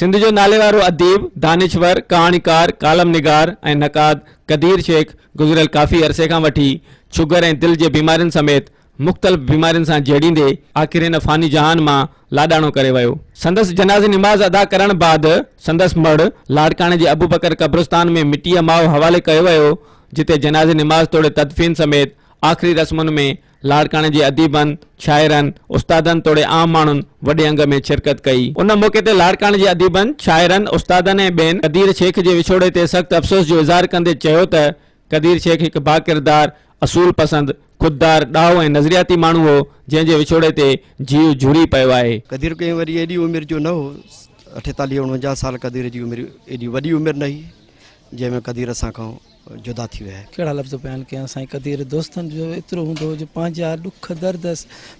سنڌ جو ناليوارو اديب، دانشور، ڪهاڻيڪار، ڪالم نگار ۽ نقاد قدير شيخ گذريل ڪافي عرصي کان وٺي شگر ۽ دل جي بيمارين سميت مختلف بيمارين سان جهيڙيندي آخر هن فاني جهان مان لاڏاڻو ڪري ويو. سندس جنازي نماز ادا ڪرڻ بعد سندس مڙهه لاڙڪاڻي جي ابوبڪر قبرستان ۾ مٽيء ماء حوالي ڪيو ويو جتي جنازي نماز توڙي تدفين سميت آخري رسمن ۾ لاڙڪاڻي جي اديبن، شاعرن، استادن توڙي عام ماڻهن وڏي انگ ۾ شرڪت ڪئي. ان موقعي تي لاڙڪاڻي جي اديبن، شاعرن، استادن ۽ ٻين قدير شيخ جي وڇوڙي تي سخت افسوس جو اظهار ڪندي چيو ته قدير شيخ هڪ باڪردار، اصول پسند، خوددار، ڏاهو ۽ نظرياتي ماڻهو هو جنهن جي وڇوڙي تي جيء جهوري پيو آهي. قدير ڪنهن وري ايڏي عمر جو نه هو. اٺيتاليهه اڻونجاهه سال قدير جي عمر ايڏي وڏي عمر نه هئي جنهن ۾ قدير اسان کان جدا ٿي ويا. ڪهڙا لفظ بيان ڪيان سائين قدير دوستن جو ايترو هوندو هو جو پنهنجا ڏک درد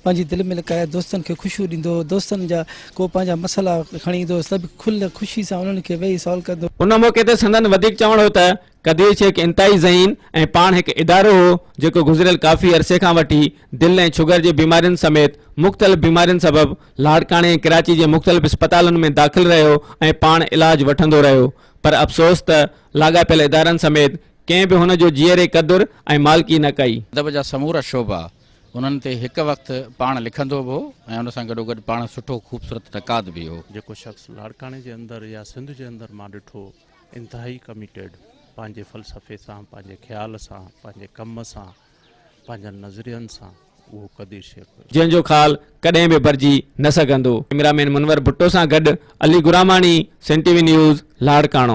پنهنجي دل ۾ لڪائي دوستن کي خوشيون ڏيندو هو دوستن جا ڪو پنهنجا مسئلا کڻي ايندو هو ته به کل خوشي سان انهن کي ويهي سالو ڪندو ان موقعي تي سندن وڌيڪ چوڻ هو ته قدير شيخ انتهائي ذهين ۽ پاڻ هڪ ادارو هو جيڪو گذريل ڪافي عرصي کان وٺي دل ۽ شگر جي بيمارين سميت مختلف بيمارين سبب لاڙڪاڻي ۽ ڪراچي جي مختلف اسپتالن ۾ داخل رهيو ۽ پاڻ علاج وٺندو رهيو پر افسوس ته لاڳاپيل ادارن سميت ڪنهن به هن جو جيئري قدر ۽ مالڪي نه ڪئي. ادب جا سمورا شعبا انهن تي هڪ وقت پاڻ لکندو به هو ۽ ان سان گڏوگڏ پاڻ سٺو خوبصورت نقاد به هو. جيڪو شخص لاڙڪاڻي جي اندر يا سنڌ جي اندر مان ڏٺو انتهائي ڪميٽيڊ پنهنجي فلسفي سان پنهنجي خيال سان پنهنجي ڪم سان پنهنجن نظرين سان اهو قدير شيخ هيو. جنهن جو خال ڪڏهن به ڀرجي نه سگهندو. ڪئميرا مين منور ڀٽو سان گڏ Ali Gharamani, Sain T V news, Larkana.